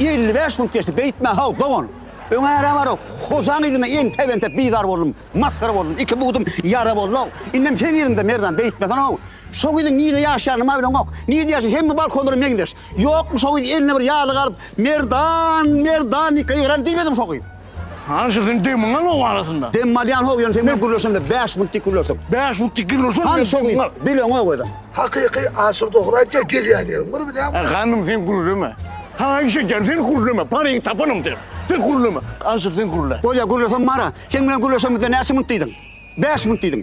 Elli bäş munt geçdi, beýtme-haw, dogan! Öň äre bara, hojaň yzyna entep-entep bizar boldum, masgara boldum, iki bugdym ýara boldy-ow. Indem seň yzyňda, Merdan, beýtmeseň-ow! Şo gyzyň nirde ýaşaýanyny maý bileňok. Nirde ýaşaýar, hemme balkonlara meňzeş. Ýokmy şo gyz eline bir ýalyk alyp, Merdan, Merdan diýip ýygran diýmedimi şo gyz? Hany şu seniň demiň al oň arasynda. Demmi alýan how ýöne sen bilen gürleşemde bäş minut dik gürleşdik. Bäş minut dik gürleşeň. Hany şu gyz bileňok özüň. Hakyky Asyr dogry aýtýar gelýän ýerim bir bilýäňmi. He ganym sen gürleme. Saňa iş edýän sen gürleme paryňy tapanym sen. Sen gürleme. Asyr sen gürle. Bolýar gürlesem mara. Seň bilen gürleşemizde näçe minut diýdiň? Bäş minut diýdiň.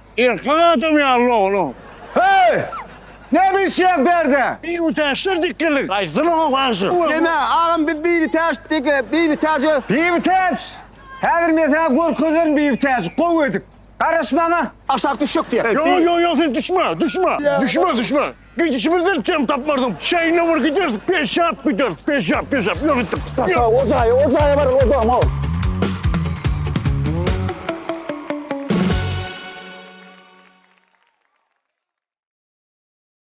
Erkek adam ýaly oglan. Heý! Ne bişýäň berde? Bibitäçler dikildik. Gaýsysyny okaýşy? Sena, agam biz bibitäç dik, bibitäç. Bibitäç! Häzir men saňa görkezerin bibitäç, gowy edip. Garaş maňa. Aşak düşjek diýýär. Ýok, ýok, ýok, sen düşme, düşme. Düşme, düşme. Gidişimizden kem tapmarsyň. Şeýle bir gideris, peşap gideris, peşap, peşap. Ýok gitdik. Sasa, o jaýa, o jaýa bar, o jaýa mor.